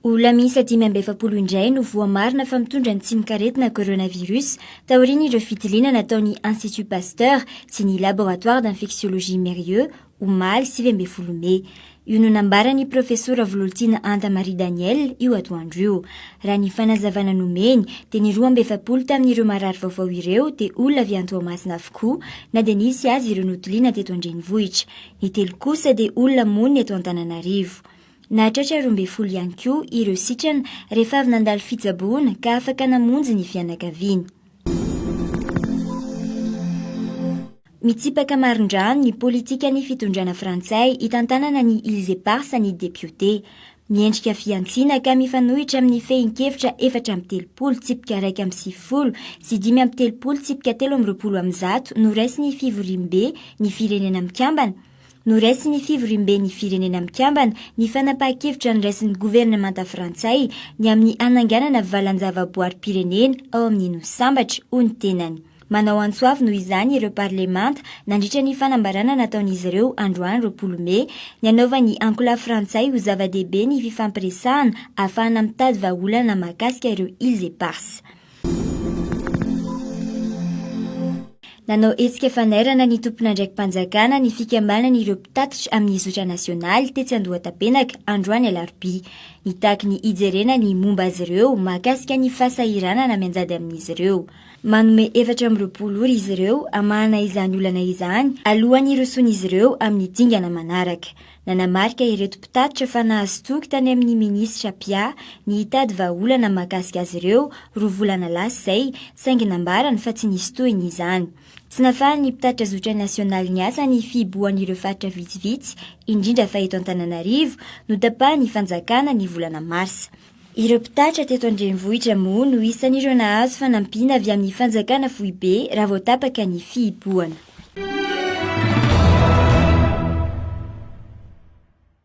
Olona miisa dimy amby efapolo indray no voamarina fa mitondra ny tsimok'aretina coronavirus taorian'ireo fitiliana nataon'ny Institut Pasteur sy ny Laboratoire d'Infectiologie Mérieux omaly sivy ambin'ny folo mey. Io no nambaran'ny Profesora Vololtiana Anta Marie Danielle io atoandro io. Raha ny fanazavana nomeny dia ny roa amby efapolo tamin'ireo marary vaovao ireo dia olona avy any Toamasina avokoa na dia nisy aza ireo notiliana teto an-drenivohitra. Ny telo kosa dia olona monina eto Antananarivo. Nahatratra roa ambin'ny folo ihany koa ireo sitrana rehefa avy nandalo fitsaboana ka afaka namonjy ny fianakaviany. Mitsipaka marindrano ny politikan'ny fitondrana frantsay hitantanana ny Îles Éparses ny depiote. Miendrika fihantsiana ka mifanohitra amin'ny fehin-kevitra efatra amby telopolo tsipika iraika amby sivifolo sy dimy amby telopolo tsipika telo amby roapolo amin'ny zato noraisin'ny fivoriambe ny Firenena Mikambana, Noraisin'ny Fivoriamben'ny Firenena Mikambana ny fanapahan-kevitra noraisin'ny governemanta frantsay ny amin'ny hananganana valan-javaboarim-pirenena ao amin'ny Nosy Sambatra, hoy ny tenany. Manao antso avo noho izany ireo parlemanta nandritra ny fanambarana nataon'izy ireo androany roapolo mey ny hanaovan'ny ankolafy frantsay ho zava-dehibe ny fifampiresahana ahafahana mitady vahaolana mahakasika ireo îles éparses. Nanao hetsika fanairana ny tompon'andraiki-panjakana ny fikambanana ireo mpitatitra amin'ny zotra nasionaly tetsy Andohatapenaka androany alarobia. Nitaky ny hijerena ny momba azy ireo mahakasika ny fahasahiranana mianjady amin'izy ireo. Manome efatra amby roapolo ora izy ireo hamahana izany olana izany alohan'ny hirosoan'izy ireo amin'ny dingana manaraka. Nanamarika ireto mpitatitra fa nahazo toky tany amin'ny minisitra Pia ny hitady vahaolana mahakasika azy ireo roa volana lasa izay, saingy nambarany fa tsy nisy tohiny izany. Tsy nahafahan'ny mpitatitra zotra nasionaly niasa ny fihibohan'ireo faritra vitsivitsy, indrindra fa eto Antananarivo, notapahiny fanjakana ny volana marsa. Ireo mpitatitra teto an-drenivohitra moa no isan'ireo nahazo fanampiana avy amin'ny fanjakana foibe raha vao tapaka ny fihibohana.